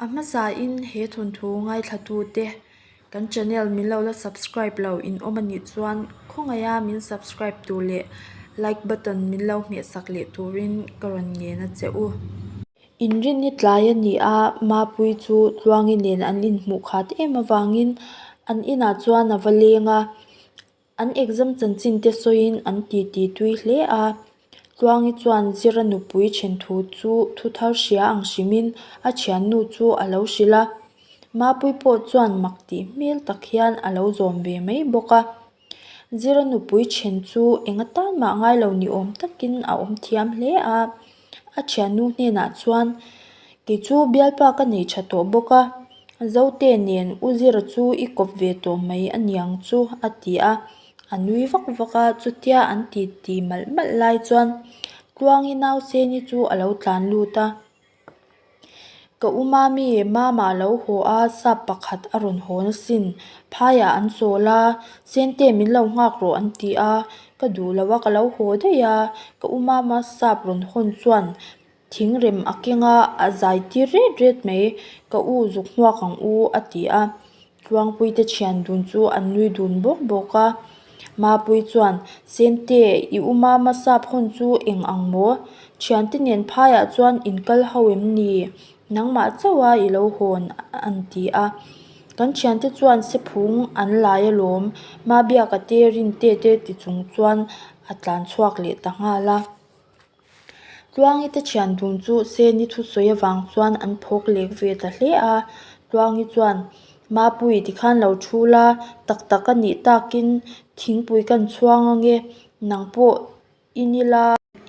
A hmasa in he thawnthu ngaithlatu te kan channel min lo la subscribe lo in awm anih chuan khawngaih a min subscribe tur leh like button min lo hmehsak leh tur in ka rawn ngen a che u. In rin i tlai a ni a mapui chu tluangi nen an in hmuh khat em avangin an inah chuan a va leng a An exam chanchin te sawiin an titi tui hle a. Tluangi chuan Zira nupui ṭhen thu chu thu thar hria ang hrimin a ṭhiannu chu a lo hrilh a. Mapui pawh chuan mak tih hmel tak hian a lo zawm ve mai bawk a. Zira nupui ṭhen chu eng atan mah ngai lo ni awm takin a awm thiam hle a. a thiannu hnenah chuan kei chu bialpa ka nei tha tawh bawk a zote nen u zir chu i kawp ve tawh mai a niang chu a ti a a nui vak vak a chutia an titi malh malh lai chuan tluangi nau seni chu a lo tlan lut a. Ka uma mi mama lo haw a, sap pakhat a rawn haw nasin. Phaiah an chawl a, Sente min lo nghak rawh an ti a. Ka duh lo a, ka lo haw daih a. Ka uma ma sap rawn hawn chuan thingrem a keng a, a zai tir ret ret mai. Ka u zuk hmuak ang u a ti a. Tluangpuite thian dun chu an nui dun bawk bawk a, Mapui chuan, Sente, i um a, Masap hawn chu eng ang maw? Thiante nen phai ah chuan in kal ho em ni? Nangmah chauh a i lo hawn an ti a. Kan thiante chuan sephung an lai a lawm, Mabiak a te rin tete ti chung chuan a tlan chhuak leh ta nghal a. Tluangi te thian dun chu Seni thu sawi avang chuan an phawk lek ve ta hle a, Tluangi chuan, Mapui tikhan lo thu la, tak tak a nih takin thingpui kan chhuang ange, nang pawh i ni la,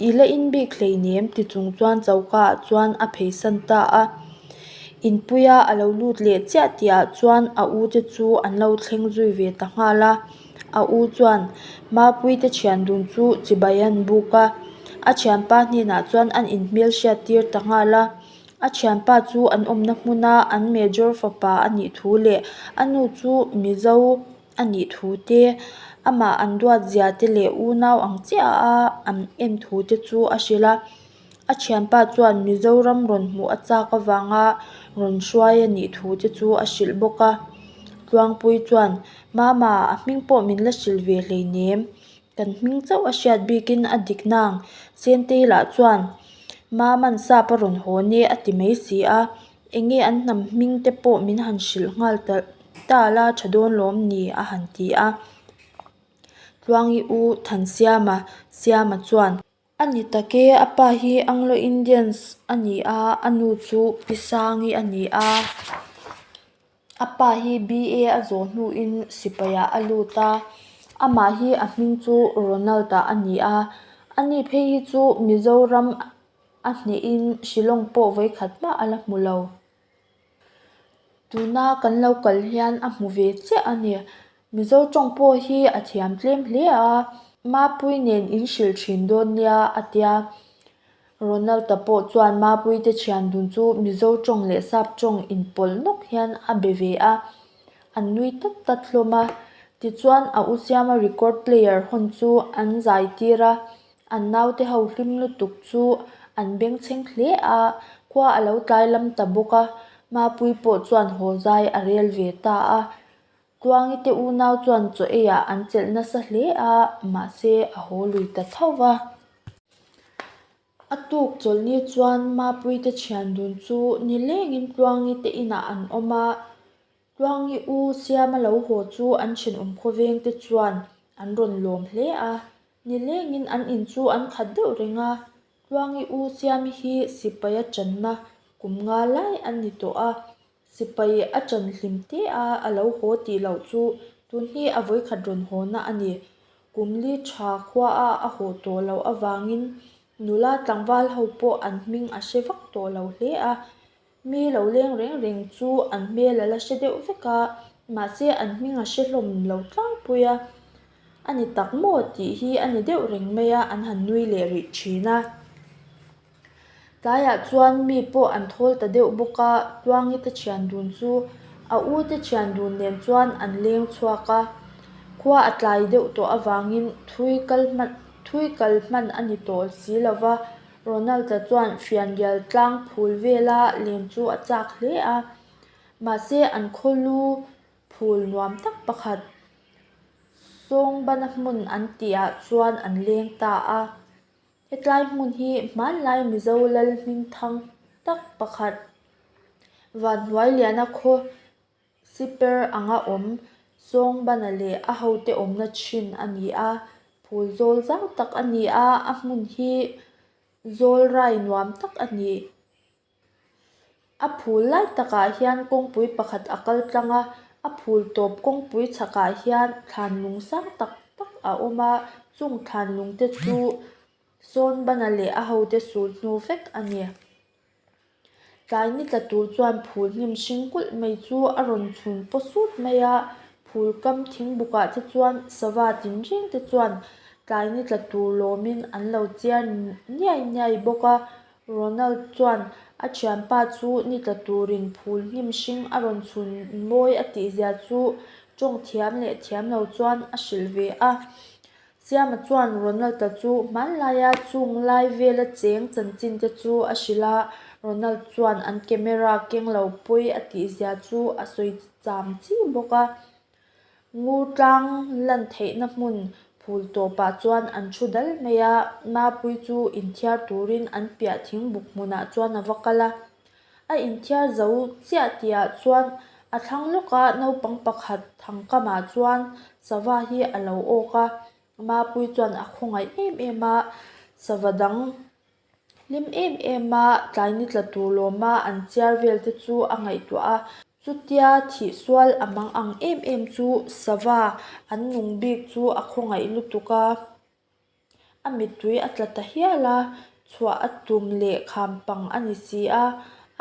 i la in bik hlei nem ti chung chuan choka ah chuan a phei san ta a, in puia a lo lut leh chiah tih ah chuan a u te chu an lo thleng zui ve ta nghal a. A u chuan Mapui te thian dun chu chibai an buk a, a thianpa hnenah chuan an inhmel hriat tir ta nghal a. A thianpa chu an awmna hmuna an Major fapa a nih thu leh a nu chu Mizo a nih thu te, amah an duatzia te leh unau ang chiaha an en thu te chu a hrilh a. A thianpa chuan Mizoram rawn hmuh a chak avanga rawn hruai a nih thu te chu a hrilh bawk a Tluangpui chuan mama a hming pawh min la hrilh ve hleinem kan hming chauh a hriat bikin a dik nang Sentail ah chuan mama'n sap a rawn haw nge a ti mai si a enge an hnam hming te pawh min han hrilh nghal talh ta la tha dawn lawm ni a han ti a Tluangi u Thansiama siama chuan. A ni tak e, a pa hi Anglo Indians a ni a, a nu chu Pisangi a ni a. A pa hi BA a zawh hnuin sipaihah a lut a. Amah hi a hming chu Ronald a a ni a. A ni phei hi chu Mizoram a hnehin Shillong pawh vawikhat hma a la hmu lo. Tuna kan lo kal hian a hmu ve chiah a ni. Mizo tawng pawh hi a thiam tlem hle a. Mapui nen in hrilh thin dawn nia a tia. Ronald te pawh chuan mapui te thian dun chu Mizo tawng leh Sap tawng in pawlh nawk hian a be ve a. An nui tlat tlat hlawm a. Tichuan a u siama record player hawn chu an zai tir a. An naute ho hlim lutuk chu an bengchheng hle a, khua a lo tlai lam ta bawk a, Mapui pawh chuan haw zai a rel ve ta a. Tluangi te unau chuan chaw eiah an chelh nasa hle a, mahse a haw lui ta tho va. A tuk chawlhni chuan Mapui te thian dun chu nilengin Tluangi te inah an awm a, Tluangi u siama lo haw chu an thinawm khawveng te chuan an rawn lawm hle a, nilengin an in chu an khat deuh reng a, Tluangi u siami hi sipai a tanna kum nga lai an ni tawh a, sipai a tan hlim te a a lo haw tih loh chu tun hi a vawikhat rawn hawna a ni, kum li tha khua a a haw tawh loh avangin nula tlangval ho pawh an hming a hre vak tawh lo hle a. Mi lo leng reng reng chu an hmel a la hre deuh vek a, mahse an hming a hrehlawm lo tlangpui a, a ni tak maw tih hi a ni deuh reng mai a an han nui leh rih thin a. Tlaiah chuan mi pawh an thawl ta deuh bawk a, Tluangi te thian dun chu a u te thian dun nen chuan an leng chhuak a, khua a tlai deuh tawh avangin thui kal hman thui kal hman a ni tawh si lova, Ronald-a chuan fianrial tlang phul vela len chu a chak hle a, mahse an khawlu phul nuam tak pakhat Sawngbana hmun an tihah chuan an leng ta a. Hetlai hmun hi hmanlai Mizo lal hmingthang tak pakhat Vanhnuailiana khaw Siper anga awm Sawngbana leh a hote awmna thin a ni a, phul zawl zau tak a ni a, a hmun hi zawlrai nuam tak a ni. A phul lai takah hian kawngpui pakhat a kal tlang a, a phul tawp kawngpui chhakah hian thlanlung sang tak tak a awm a, chung thlanlung te chu Sawngbana leh a hote sulhnu vek a ni. Tlai ni tla tur chuan phul hnim hring kulh mai chu a rawn chhun paw sut mai a, phul kam thing bukah te chuan sava tin reng te chuan tlai ni tla tur lawmin an lo chiar niai niai bawk a, Ronald chuan a thianpa chu ni tla turin phul hnim hring a rawn chhun mawi a tihzia chu tawng thiam leh thiam lo chuan a hrilh ve a. Siama chuan Ronald-a chu hmanlaia chung lai vela cheng chanchin te chu a hrilh a, Ronald chuan an camera keng lo pawi a tihzia chu a sawi cham chi bawk a. Ngu tlang lan theihna hmun phul tawpah chuan an thu dal mai a, Mapui chu inthiar turin an piah thingbuk hmunah chuan a va kal a. A inthiar zo chiah tihah chuan a thlang lawka naupang pakhat thang kamah chuan sava hi a lo awk a, Mapui chuan a khawngaih em em a, sava dang hlim em em a tlai ni tla tur lawma an chiar vel te chu a ngaihtuah a. Chutia thih sual a mang ang em em chu sava an nung bik chu a khawngaih lutuk a. A mittui a tla ta hial a, chhuah a tum leh kham pang a ni si a,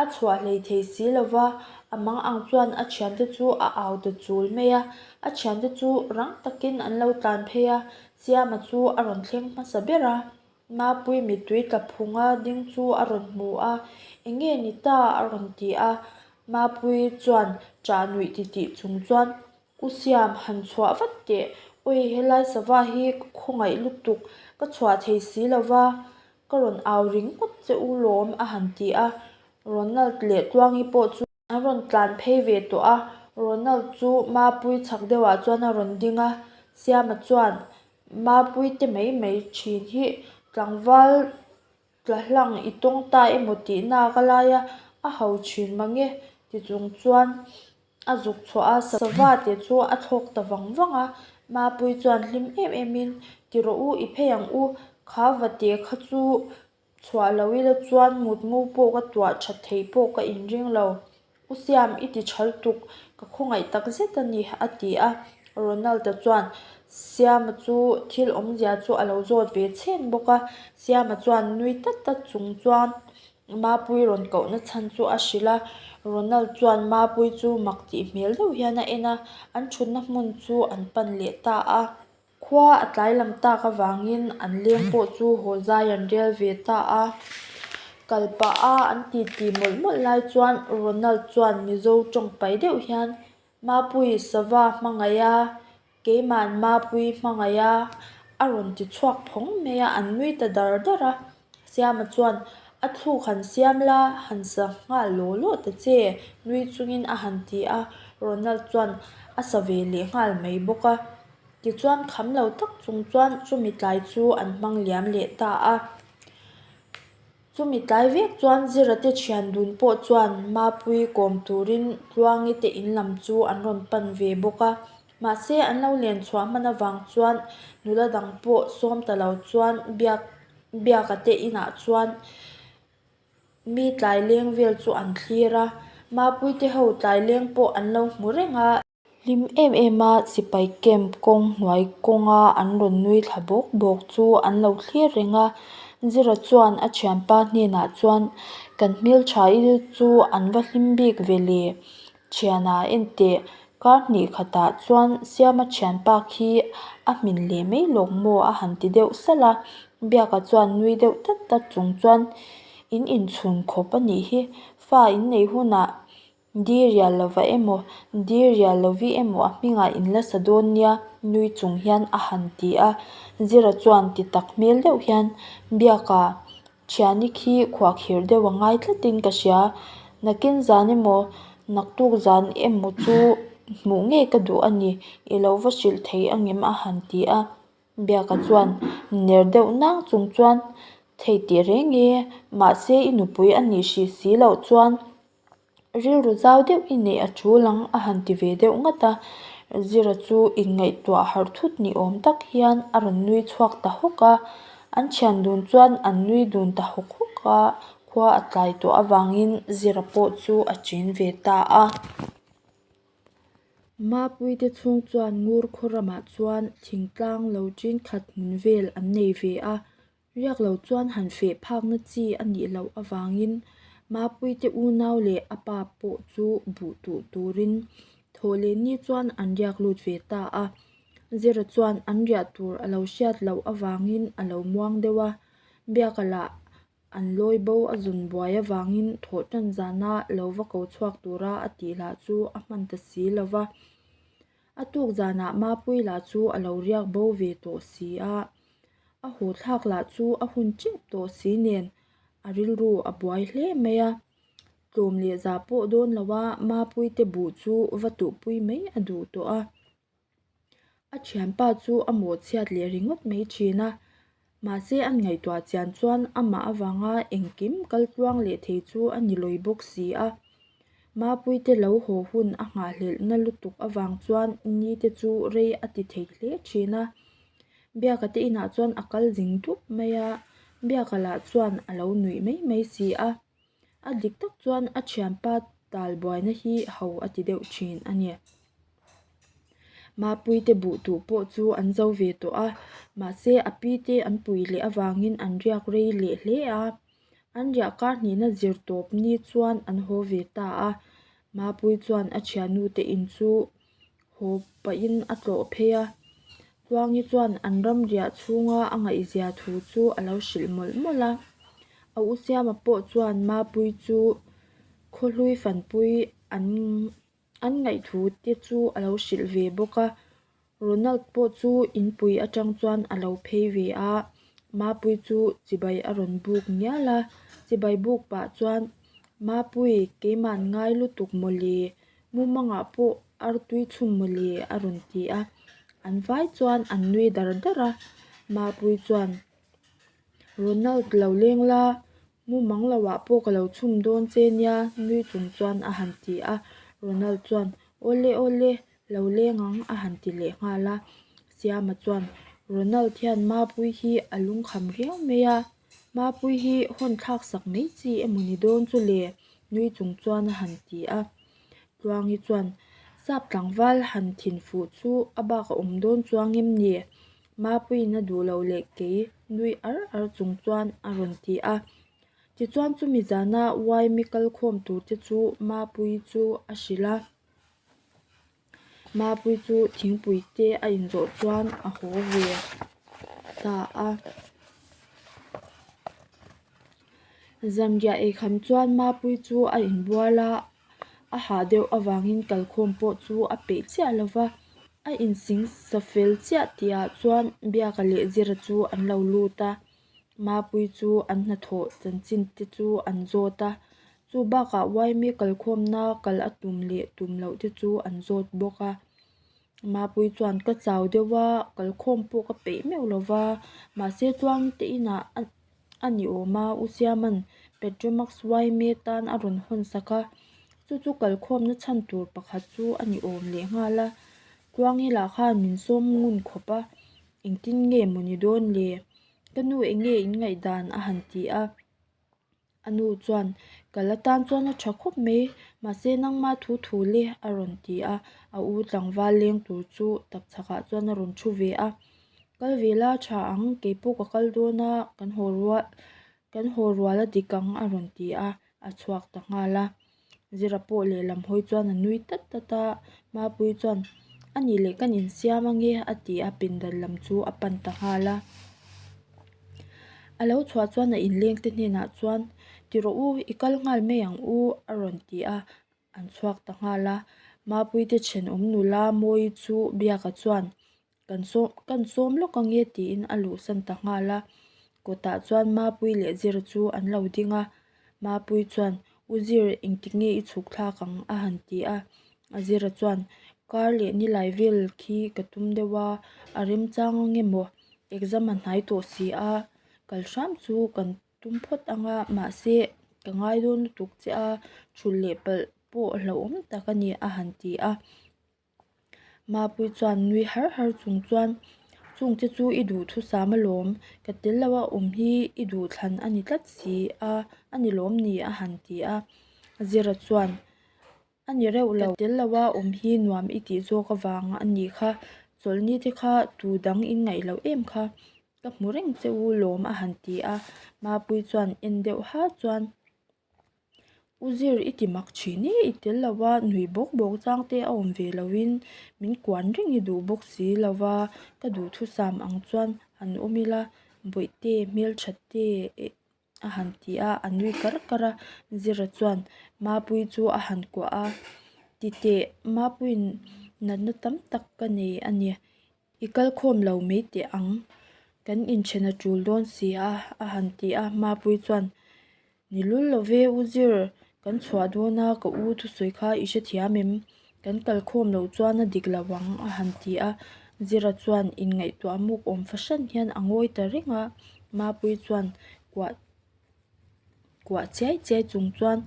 a chhuah hlei thei si lo va, a mang ang chuan a thiante chu a au ta chul mai a, a thiante chu rang takin an lo tlan phei a, Siama chu a rawn thleng hmasa ber a, Mapui mittui tla phunga ding chu a rawn hmu a, eng nge ni ta a rawn ti a, Mapui chuan chah nuih ti tih chung chuan U Siam han chhuah vat teh. Awii helai sava hi ka khawngaih lutuk ka chhuah thei si lova ka rawn au ring ngawt che u lawm a han ti a, Ronald leh Tluangi pawh chu. An rawn tlan phei ve tawh a, Ronald chu Mapui chak deuh ah chuan a rawn ding a, Siama chuan Mapui te mai mai thin hi tlangval Tla hlang i tawng ta emaw tihnak a laia a ho thin mange tichung chuan a zuk chhuah a, Savate chu a thlawk ta vang vang a, Mapui chuan hlim em em in, Ti rawh u, i phei ang u, kha va teh kha chu chhuah lo ila chuan mutngu pawh ka tuah that thei pawh ka inring lo. U Siam, i ti chhal tuk, ka khawngaih tak zet a ni, a ti a. Ronald-a chuan Siam-a chu thil awmzia chu a lo zawt ve chheng bawk a. Siam-a chuan nui tlat tlat chung chuan Mapui rawn koh na chhan chu a hrilh a. Ronald chuan Mapui chu mak tih hmel deuh hian a en a, an thutna hmun chu an pan leh ta a. Khua a tlai lam tak avangin an leng pawh chu haw zai an rel ve ta a. Kal pah a an titi mawlh mawlh lai chuan Ronald chuan Mizo tawng paih deuh hian, Mapui sava hmangaih a, keiman mapui hmangaih a, a rawn ti chhuak phawng mai a, an nui ta dar dar a. Siama chuan, A thluk han siam la, han sa nghal law law ta che, nui chungin a han ti a. Ronald chuan a sa ve leh nghal mai bawk a. Tichuan kham lo tak chung chuan chumi tlai chu an hmang liam leh ta a. Chumi tlai vek chuan Zirate thian dun pawh chuan Mapui kawm turin Tluangite in lam chu an rawn pan ve bawk a. Mahse, an lo len chhuah hman avang chuan nula dang pawh sawm ta lo chuan biak biaka te inah chuan mi tlai leng vel chu an thlir a, mapuite ho tlai leng pawh an lo hmu reng a. Hlim em em a sipai camp kawng hnuai kawnga an rawn nui thla bawk bawk chu an lo thlir reng a. Zira chuan a thianpa hnenah chuan, Kan hmel tha i chu an va hlim bik ve le, Thiana enteh, kar hnih khatah chuan Siama thian pâk hi a hmin leh mai lawk maw a han ti deuh salh a, biaka chuan nui deuh tlat tlat chung chuan, In inchhun khawp a nih hi, fa in nei hunah dirial lovah emaw, dirial lovih emaw a hmingah in la sa dawn nia nui chung hian a han ti a, Zira chuan ti tak hmel deuh hian biaka. Chiani khi khuak hir deuh a ngai tlatin ka hria. Nakin zan emaw naktuk zan em maw chu hmuh ngei ka duh a ni. I lo va hrilh thei ang em? a han ti a. Biaka chuan ner deuh nang chung chuan, Thei tih reng e, mahse i nupui a nih hrih si loh chuan Rilru zau deuh i neih a chul ang a han ti ve deuh ngat a, Zira chu inngaihtuah harh thut ni awm tak hian a rawn nui chhuak ta hawk a, an thian dun chuan an nui dun ta hawk hawk a, khua a tlai tawh avangin Zira pawh chu a ṭin ve ta a. Mapuite chhung chuan Ngurkhaw ramah chuan thingtlang lo ṭin khat hmun vel an nei ve a. Riak lo chuan han feh phakna chi a nih loh avangin Mapuite unau leh a pa pawh chu buh tuh turin thaw leh ni chuan an riak lut ve ta a. Zira chuan an riah tur a lo hriat loh avangin a lo muang deuh a. Biaka lah an lawi bo a zun buai avangin thaw tan zana lo va ko chhuak tura a tihlah chu a hman ta si lo va. A tuk zanah Mapui lah chu a lo riak bo ve tawh si a, a hawthlak lah chu a hun chep tawh si nen a rilru a buai hle mai a. Tlawm leh za pawh dawn lo a, Mapui te buh chu va tuhpui mai a duh tawh a. A thianpa chu a mawhchhiat leh ringawt mai thin a. Mahse an ngaihtuah chian chuan amah avanga engkim kal tluang leh thei chu a ni lawi bawk si a. Mapuite lo haw hun a nghahhlelhna lutuk avang chuan ni te chu rei a ti thei hle thin a. Biaka te inah chuan a kal zing dup mai a, biaka lah chuan a lo nuih mai mai si a. A dik tak chuan a thianpa talbuaina hi ho a ti deuh thin a ni. Mapui te buh tu pawh chu an zo ve tawh a, mahse a pi te an pui leh avangin an riak rei leh hle a. An riah kar hnihna zir tawp ni chuan an haw ve ta a, Mapui chuan a thianute in chu. haw pahin a tlawh phei a, Tluangi chuan an ram riah chhunga a ngaihzia thu chu a lo hrilh mawlh mawlh a. A u Siama pawh chuan Mapui chu khawhlui fanpui an an ngaih thu te chu a lo hrilh ve bawk a. Ronald pawh chu inpui atang chuan a lo phei ve a, Mapui chu chibai a rawn buk ngial a, chibai buk pah chuan Mapui keimah ngai lutuk mawlih Mumangah pawh artui chhung mawle a rawn ti a, an vai chuan an nui dar dar a, Mapui chuan Ronald lo leng la, mumang lo ah pawh ka lo chhum dawn che nia nui chung chuan a han ti a, Ronald chuan awle awle lo leng ang a han ti leh nghal a, Siama chuan Ronald hian Mapui hi a lungkham riau mai a. Mapui hi hawn thlak sak mai chi emaw ni dawn chu le nui chung chuan a han ti a. Tluangi chuan, Sap tlangval han thin fuh chu a bak a awm dawn chuang em ni? Mapui'n a duh loh leh kei nui ar ar chung chuan a rawn ti a. Tichuan chumi zana uaimi kal khawm tur te chu Mapui chu a hrilh a. Mapui chu thingpui te a in zawh chuan a haw ve ta a Zamgiah eikham chuan Mapui chu a in bual a, a hah deuh avangin kalkhawm pawh chu a peih chiah lo va, a in sing sa fel chiah tih ah chuan biak a leh zir a chu an lo lut a. Mapui chu an hnathawh chanchin te chu an zawt a, chu bakah Yme kalkhawmna kal a tum leh tum loh te chu an zawt bawk a. Mapui chuan ka chau deuh a, kalkhawm pawh ka peih meuh lo va, mahse chuan te inah a ni awm a, u Siaman Petromax Yme tan a rawn hawn sak a, chu chu kalkhawmna chhan tur pakhat chu a ni awm leh nghal a, Khuang ila khan min sawm ngun khawp a, Engtin nge maw ni dawn le? Ka nu enge in ngaih dan a han ti a? A nu chuan ka la tan chuan a tha khawp mai, mahse nangma thu thu le a rawn ti a, a u tlangval leng tur chu takchhak ah chuan a rawn thu ve a. Kal ve la tha ang, kei pawh ka kal dawn a, kan haw rual, kan haw rual a dik ang a rawn ti a, a chhuak ta nghal a. Zira pawh lehlam hawi chuan a nui tlat tlat a, Mapui chuan a nih leh kan insiam ange a ti a, pindan lam chu a pan ta nghal a. A lo chhuah chuan a inlengte hnenah chuan ti rawh u, i kal nghal mai ang u a rawn ti a, an chhuak ta nghal a. Mapui te chhen awm nula Mawi chu biak a chuan Kan sawm, kan sawm lawk ange tiin a luhsan ta nghal a. Kawtah chuan Mapui leh Zir chu an lo ding a. Mapui chuan, U Zir, engtik nge i chhuk thlak ang? a han ti a. A Zira chuan, Kar leh nilai vel khi ka tum deuh a, a remchang ang em aw? Exam a hnai tawh si a, kal hram chu kan tum phawt ang a, mahse ka ngai dawn lutuk che a, chhul leh palh pawh hlauhawm tak a ni, a han ti a. Mapui chuan nui har har chung chuan Chung che chu i duh thusam alawm ka tel lo a awm hi i duh thlan a ni tlat si a a ni lawm ni a han ti a Zira chuan a ni reuh lo ka tel lo a awm hi nuam i tih zawk avang a ni kha chawlh ni te kha tu dang in ngaih loh em kha ka hmu reng che u lawm a han ti a Mapui chuan en deuh har chuan. U Zir i ti mak thin e, i tel lo va, nui bawk bawk chang te a awm ve lo in min kuan reng i duh bawk si lo va, ka duhthusam ang chuan han awm ila bawihte hmeltha te eh a han ti a, a nui kar kar a, Zira chuan Mapui chu a han kuah a, titeh Mapuiin natna tam tak ka nei a ni. I kal khawm lo mai teh ang, kan inchhen a tul dawn si a, a han ti a. Mapui chuan, Ni lul lo ve u zir, kan chhuah dawn a, ka u thusawi kha i hre thiam em? Kan kal khawm loh chuan a dik lo ang, a han ti a. Zira chuan inngaihtuah muk awm fahran hian a ngawi ta reng a. Mapui chuan kuah kuah chiai chiai chung chuan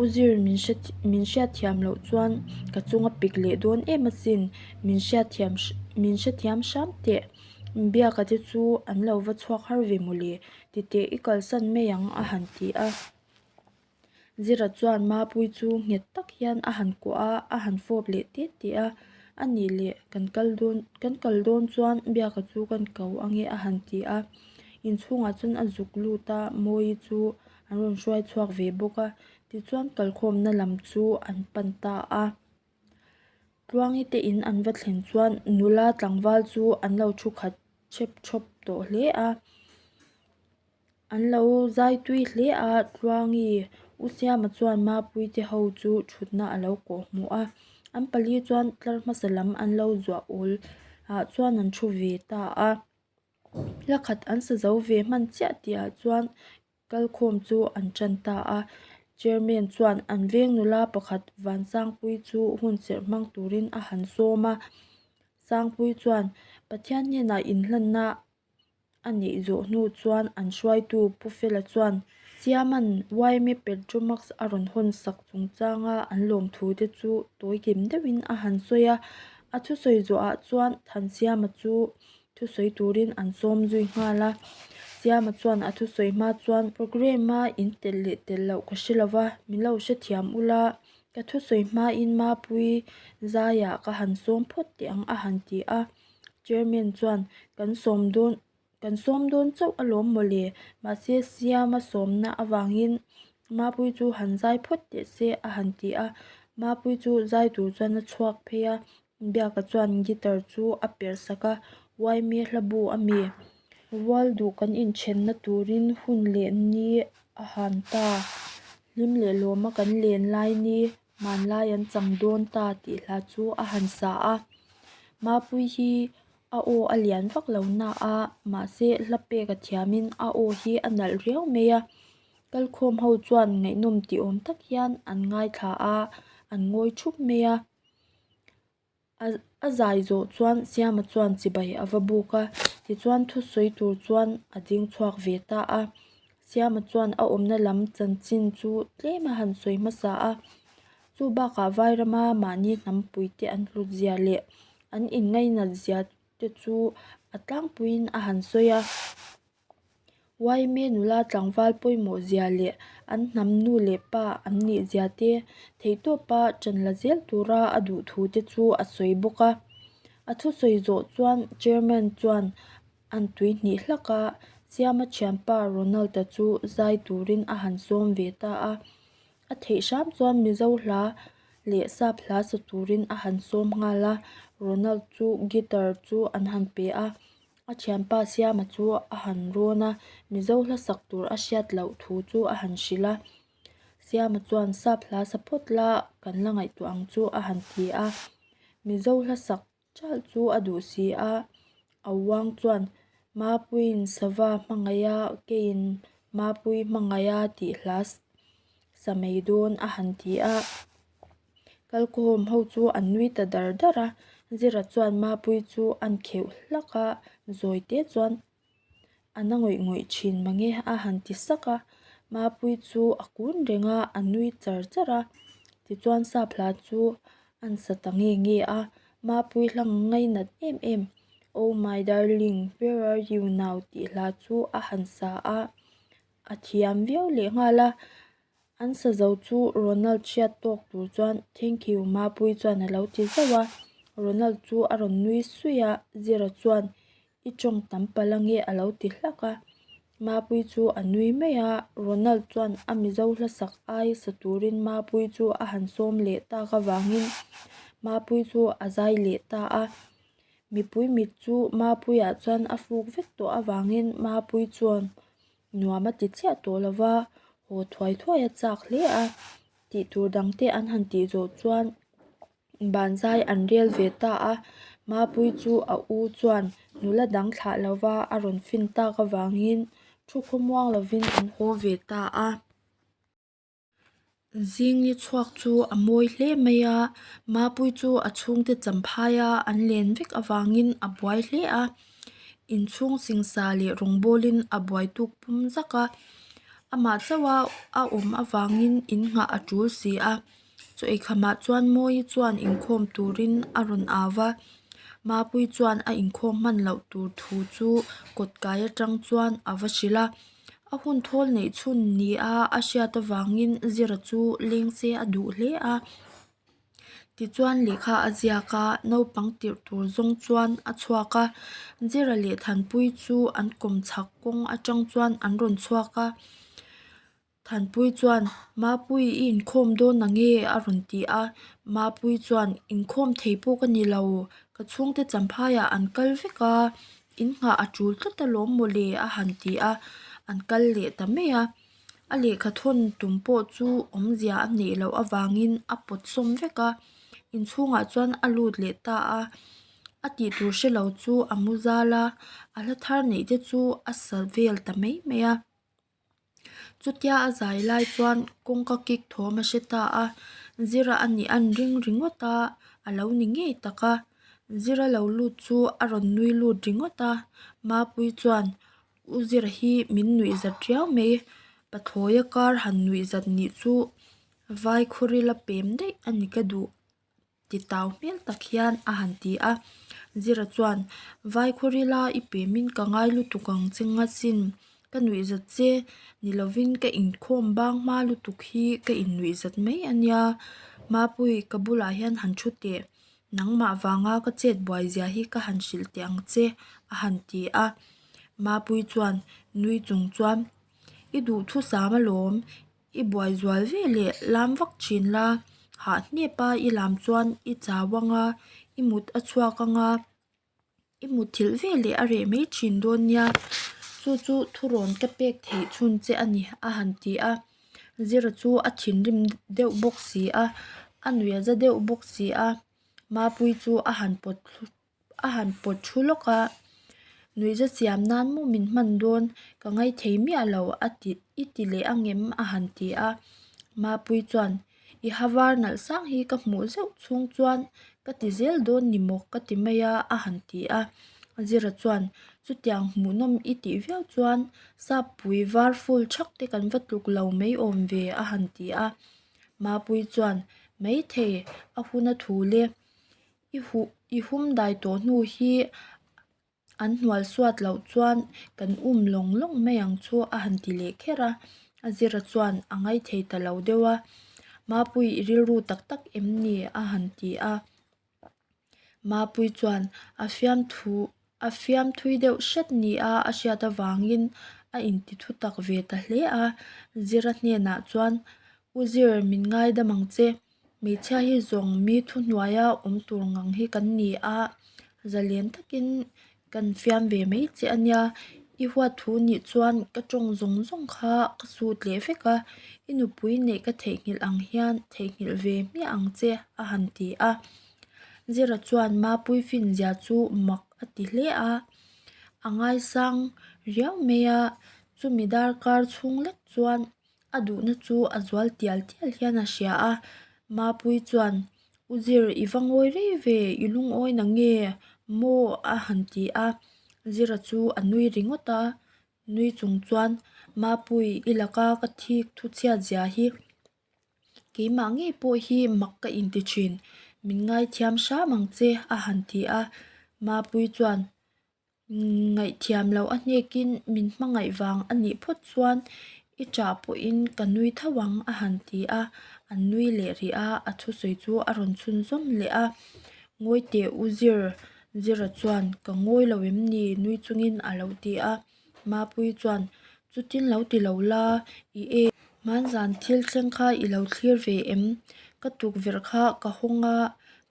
u zir min hre min hriatthiam loh chuan ka chung a pik leh dawn em asin min hriatthiam min hrethiam hram teh biaka te chu an lo va chhuak har ve mawle titeh i kalsan mai ang a han ti a zira chuan mapui chu nghet tak hian a han kuah a a han fawp leh tê tê a a nih leh kan kal dawn kan kal dawn chuan biaka chu kan ko ange a han ti a. Inchhungah chuan a zuk lut a, Mawi chu an rawn hruai chhuak ve bawk a, tichuan kalkhawmna lam chu an pan ta a. Tluangi te in an va thlen chuan nula tlangval chu an lo thu khat chep chhawp tawh hle a, an lo zai tui hle a, Tluangi u Siama chuan Mapuite ho chu thutna a lo kawh hmu a, an pali chuan tlar hmasa lam an lo zuah awl ah chuan an thu ve ta a. La khat an sa zo ve hman chiah tih ah chuan kal khawm chu an tan ta a chairman chuan an veng nula pakhat vansangpui chu hun cherh hmang turin a han sawm a sangpui chuan pathian hnenah in hlan na a nih zawh hnu chuan an hruaitu pu fela chuan chiaman yma petro max a rawn hawn sak chung chang a an lawm thu te chu tawi kim deuh in a han sawi a a thusawi zawh ah chuan than siama chu-- thusawi turin an sawm zui nghal a, Siama chuan a thusawi hma chuan programme a in tel leh tel loh ka hre lova min lo hre thiam ula, ka thusawi hmain mapui zaia ka han sawm phawt teh ang a han ti a, Chairman chuan kan sawm dawn kan sawm dawn chauh alawm mawle, mahse Siama sawmna avangin mapui chu han zai phawt teh se a han ti a, mapui chu zai tur chuan a chhuak phei a, Biaka chuan guitar chu a perh sak a, Yme hlabu a mi? Rual duh kan inchhenna turin hun leh ni a han ta, hlim leh lawma kan len lai ni hmanlai an chang dawn ta tih hla chu a han sa a. Mapui hi a aw a lian vak lo naah mahse hla peka thiamin a aw hi a nalh riau mai a. Kal khawm ho chuan ngaihnawm ti awm tak hian an ngaithla a, an ngawi thup mai a. A zai zawh chuan Siama chuan chibai a va buk a, tichuan thusawi tur chuan a ding chhuak ve ta a. Siama chuan a awmna lam chanchin chu tlem a han sawi hmasa a. Chu bakah vai rama mahni hnam pui te an hlut zia leh an in ngainat zia te chu a tlangpuiin a han sawi a. Yma nula tlangval pawimawh zia leh an hnam nu leh pa an nih zia te theihtawpa chanla zel tura a duh thu te chu a sawi bawk a. A thu sawi zawh chuan chairman chuan an tui hnih hlak a, Siama thianpa Ronald-a chu zai turin a han sawm ve ta a. A theih hram chuan Mizo hla leh sap hla sa turin a han sawm nghal a. Ronald chu guitar chu an han pe a, a thianpa siama chu a han rawn a mizo hlasak tur a hriat loh thu chu a han hrilh a siama chuan sap hla sa phawt la kan la ngaihtuah ang chu a han ti a mizo hlasak ṭalh chu a duh si a auang chuan mapuiin sava hmangaih a keiin mapui hmangaih a tih hla sa mai dawn a han ti a. Kalkawm ho chu an nui ta dar dar a, Zira chuan Mapui chu an kheuh hlak a, zawite chuan a na ngawih ngawih thin mange a han ti sak a, Mapui chu a kun reng a, a nui char char a, tichuan Sapla chu an sa ta nge nge a, Mapui hlang ngai nat em em, Oh my darling, where are you now? tih hla chu a han sa a, a thiam viau leh nghal a. An sazo chu Ronald hriat tawk tur chuan Thank you Mapui chuan a lo ti zauh a, Ronald chu a rawn nui suih a, Zira chuan I tawng tam pal ange a lo ti hlak a, Mapui chu a nui mai a, Ronald chuan a mizo hlasak ai sa turin Mapui chu a han sawm leh tak avangin Mapui chu a zai leh ta a, mipui mit chu Mapui ah chuan a fuk vek tawh avangin Mapui chuan nuam a ti chiah tawh lo va, haw thuai thuai a chak hle a, tih tur dang te an han tih zawh chuan banzai an rel ve ta a, Mapui chu a u chuan nula dang thlah lo va a rawn fin tak avangin thu khawmuang lovin an haw ve ta a. Zingni chhuak chu a mawi hle mai a, Mapui chu a chhungte champhai a, an len vek avangin a buai hle a, inchhung singsa leh rawngbawlin a buai tuk pum zak a, amah chauha a awm avangin in nghah a tul si a, Chawikhama chuan Mawi chuan inkhawm turin a rawn au va, Mapui chuan a inkhawm hman loh tur thu chu kawtkai atang chuan a va hrilh a. A hun thawl neih chhun ni a a hriat avangin zira chu leng se a duh hle a tichuan lehkha a ziak a naupang tirh tur zawng chuan a chhuak a zira leh thanpui chu an kum chak kawng atang chuan an rawn chhuak a thanpui chuan mapui i inkhawm dawn ang e a rawn ti a mapui chuan inkhawm thei pawh ka ni lo ka chhungte champhaia an kal vek a. In nghah a tul tlat alawm maw le a han ti a, an kal leh ta mai a. A lehkha thawn tum pawh chu awmzia a neih loh avangin a pawt sawm vek a, inchhungah chuan a lut leh ta a, a tih tur hre lo chu a mu zal a, a hla thar neih te chu a sa vel ta mai mai a. Chutia a zai lai chuan kawngka kik thawm a hre ta a, zira a nih a ni ring ringawt a, a lo ni ngei tak a, zira lo lut chu a rawn nui lut ringawt a, mapui chuan u zir hi min nuih zat riau mai, pa thawia kar han nuih zat nih chu vai khaw rila pem daih a ni ka duh. ti tau hmel tak hian a han ti a, Zira chuan Vai khawrila i pe min ka ngai lutuk ang che ngachin ka nuihzat che ni lovin ka inkhawm bang hma lutuk hi ka innuihzat mai a nia. Mapui ka bulah hian han thu teh, nangmah vanga ka chet buai zia hi ka han hrilh teh ang che a han ti a. Mapui chuan nui chung chuan i duhthusam alawm, I buai zual ve leh lam vak thin la, hah hnep a i lam chuan i chau ang a, i mut a chhuak ang a, i mut thilh ve leh a reh mai thin dawn nia, chu chu thurawn ka pek theih chhun che a ni a han ti a, Zira chu a thinrim deuh bawk si a, a nuiha za deuh bawk si a, Mapui chu a han pawt-- a han pawt thu lawk a nui za siam nan maw min hman dawn ka ngaithei miah lo a ti i ti leh ang em a han ti a mapui chuan i ha var nalh sang hi ka hmuh zeuh chhung chuan ka ti zel dawn ni maw ka ti mai a a han ti a zira chuan chutiang hmuh nawm i tih viau chuan sapui var ful thak te kan va tluk lo mai awm ve a han ti a mapui chuan maithei a hun a thu le. I huh i hum dai tawh hnu hi an hnualsuat loh chuan kan um lawng lawng mai ang chu a han ti leh kher a a zira chuan a ngai thei ta lo deuh a mapui i rilru tak tak em ni a han ti a mapui chuan a fiamthu-- A fiamthui deuh hret ni a a hriat avangin a inti thutak ve ta hle a. Zira hnenah chuan, U Zir, min ngaidam ang che, hmeichhia hi zawng mi thuhnuaia awm tur ngang hi kan ni a, zalian takin kan fiam ve mai che a nia. I huathu nih chuan ka tawng zawng zawng kha ka sut leh vek a, i nupui neih ka theihnghilh ang hian theihnghilh ve hmiah ang che a han ti a. Zira chuan ma puifin zia chu mak a ti hle a, a ngaisang riau mai a, chumi darkar chhung lek chuan a duhna chu a zual tial tial hian a hria a, ma pui chuan u zir i va ngawi rei ve i lungawina nge maw a han ti a, zira chu a nui ringawt a, nui chung chuan ma pui i laka ka thik thuchhiat zia hi. Keimah ngei pawh hi mak ka inti thin, min ngaithiam hram ang che a han ti a, Mapui chuan ngaihthiam loh a hnekin min hmangaih vang a nih phawt chuan i ṭah pawhin ka nui tho ang a han ti a, an nui leh rih a, a thusawi chu a rawn chhun zawm leh a, Ngawihte u Zir, Zira chuan ka ngawi lo em ni nui chungin a lo ti a. Mapui chuan, Chutin lo ti lo la, i e. Hmaan zan thil thleng kha i lo thlir ve em? Ka tukverh kha ka hawng a,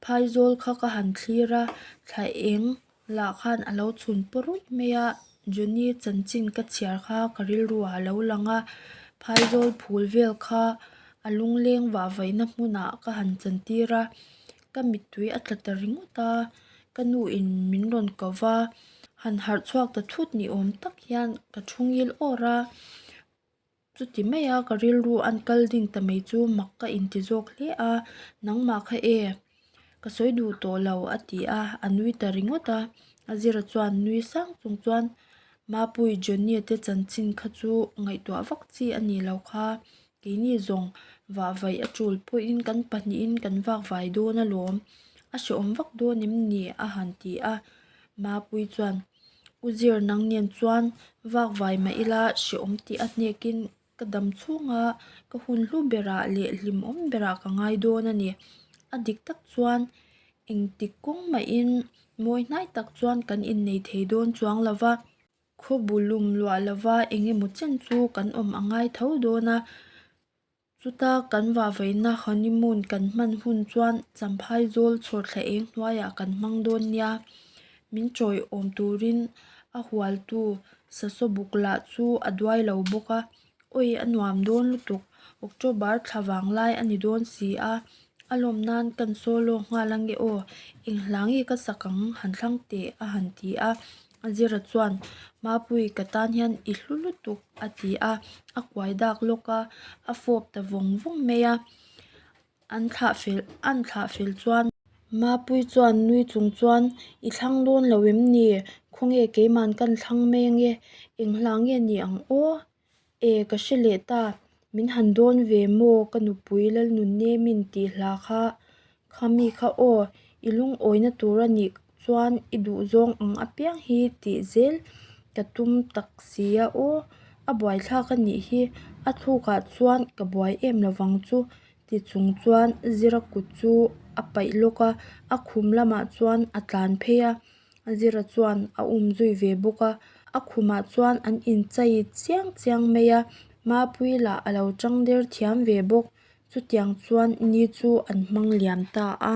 phaizawl kha ka han thlir a, thla eng lah khan a lo chhun paw ruih mai a, Johnny chanchin ka chhiar kha ka rilru ah a lo lang a, phaizawl phul vel kha a lungleng vah vaihna hmunah ka han chantir a, ka mittui a tla ta ringawt a ka nu in min rawn kau va han harh chhuak ta thut ni awm tak hian ka thungil awr a chuti mai a ka rilru an kal ding ta mai chu mak ka inti zawk hle a nangmah kha e ka sawi duh tawh lo a ti a a nui ta ringawt a a zira chuan nui sang chung chuan mapui johnny te chanchin kha chu ngaihtuah vak chi a ni lo kha. Keini zawng vahvaih a tul pawhin kan pahnihin kan vakvai dawn a lawm. A hreawm vak dawn em ni? a han ti a. Mapui chuan, U Zir nang nen chuan vakvai mah ila hreawm tih a hnekin ka dam chhunga ka hun hlu berah leh hlim awm berah ka ngai dawn a ni. A dik tak chuan engtik kawng mahin mawi hnai tak chuan kan innei thei dawn chuang lova. Khaw bu lum luah lova eng emaw chen chu kan awm a ngai tho dawn a. Chuta kan vah veihna honeymoon kan hman hun chuan Champhai zawl chhawr thleh eng hnuaiah kan hmang dawn nia. Min chawi awm turin a hualtu Sasawbuk lah chu a duai lo bawk a. Awi a nuam dawn lutuk. October thla vang lai a ni dawn si a, a lawm nan kan sawi lawk nghal ang e aw. Eng hlangi ka sak ang han thlang teh a han ti a. Azira chuan Mapuii ka tan hian i hlu lutuk a ti a, a kuai dak lawk a, a fawp ta vawng vawng mai a. An thlah fel an thlah fel chuan. Mapui chuan nui chung chuan, I thlang dawn lo em ni? Khawnge keiman kan thlang mai ange, eng hla nge ni ang aw? E, ka hre leh ta, min han dawn ve maw? Ka nupui Lalnunnemin tih hla kha, Kha mi kha aw, i lungawina tur a nih chuan i duhzawng ang apiang hi tih zel ka tum tak si a aw a buaithlak a nih hi a thlukah chuan ka buai em lo vang chu ti chung chuan zira kut chu a paih lawk a a khum lamah chuan a tlan phei a zira chuan a um zui ve bawk a a khumah chuan an inchei chiang chiang mai a mapui lah a lo changder thiam ve bawk. Chutiang chuan ni chu an hmang liam ta a.